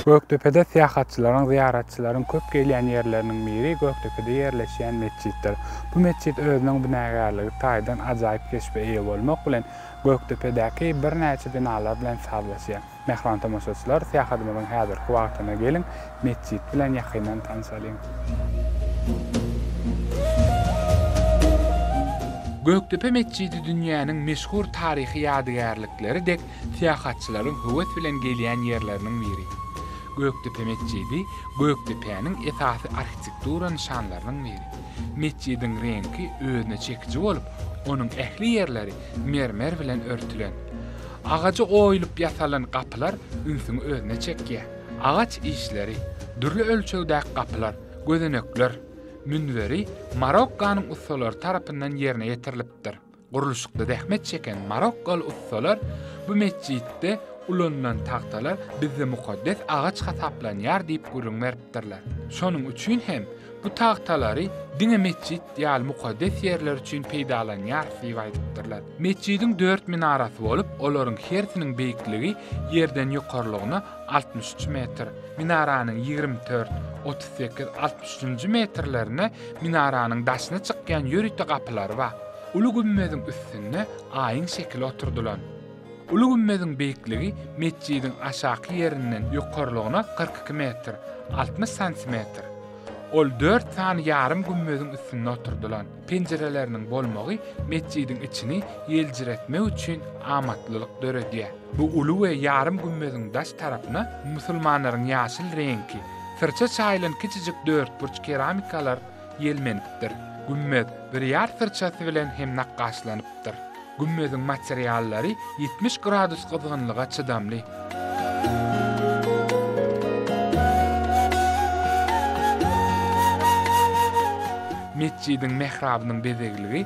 Gökdepede syýahatçylaryň, zyýaratçylaryň köp gelýän ýerleriniň biri Gökdepede ýerleşýän metjitdir. Bu metjit özüniň binagärligi taýdan ajaýyp keşbe eýe bolmak bilen, Gökdepedäki birnäçe binalar bilen sazlaşýar. Mähriban tomaşaçylar, syýahadymyzyň häzirki wagtyna geliň, metjit bilen ýakyndan tanşalyň. Gökdepe metjidi dünýäniň meşhur taryhy ýadygärlikleri dek syýahatçylaryň höwes bilen gelýän ýerleriniň biri. Gökdepe metjidi Gökdepäniň esasy arhitektura nyşanlarynyň biri. Metjidiň reňki özüne çekiji bolup, onuň ähli ýerleri mermer bilen örtülen. Agaja oýulyp ýasalan gapylar ünsüňi özüne çekýär. Agaç işleri, dürli ölçegdäki gapylar, gözenekler, münberi Marokkanyň ussalary tarapyndan ýerine ýetirilipdir. Gurluşykda zähmet çeken marokkaly ussalar bu metjitde ulanylan tagtalar bizde mukaddes agaç hasaplanýar diýip gürrüň beripdirler. Şonuň üçin hem Bu tagtalary diňe metjit ýaly mukaddes ýerler üçin peýdalanýarys diýip aýdypdyrlar. Metjidiň dört minarasy bolup, olaryň hersiniň beýikligi ýerden ýokarlygyna altmyş üç metr. Minaranyň ýigrimi dört, otuz sekiz, altmyş üçünji metrlerinde minaranyň daşyna çykýan ýörite gapylary bar. Uly gümmeziň üstünde aýyň şekili oturdylan. Uly gümmeziň beýikligi metjidiň aşaky ýerinden ýokarlygyna kyrk iki metr, altmyş santimetr. Ol dört sany ýarym gümmeziň üstünde oturdylan. Penjireleriniň bolmagy metjidiň içini ýeljiretmek üçin amatlylyk döredýär. Bu uly we ýarym gümmeziň daş tarapyna musulmanlaryň ýaşyl reňki, syrça çaýylan kiçijik dörtburç keramikalar ýelmenipdir. Gümmez birýar syrçasy bilen hem nakgaşlanypdyr. Gümmeziň materiallary ýetmiş gradus gyzgynlyga çydamly. Metjidiň mährabynyň bezegligi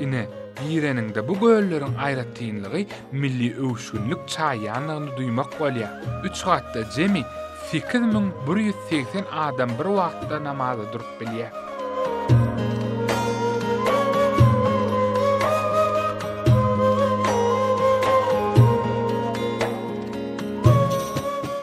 Ine, gireniňde bu gölleriň aýratynlygy milli öwüşginlik çaýýandygyny duýmak bolýar. Üç gatda jemi sekiz müň bir ýüz segsen adam bir wagtda namaza durup bilýär.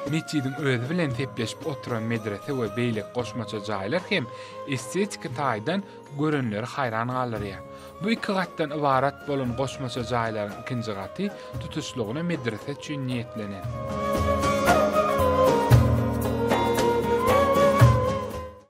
Metjidiň özi bilen sepleşip oturan medrese we beýleki goşmaça jaýlar hem estetiki taýdan görenleri haýran galdyrýar. Bu iki gatdan ybarat bolan goşmaça jaýlaryň ikinji gaty tutuşlygyna medrese üçin niýetlenen.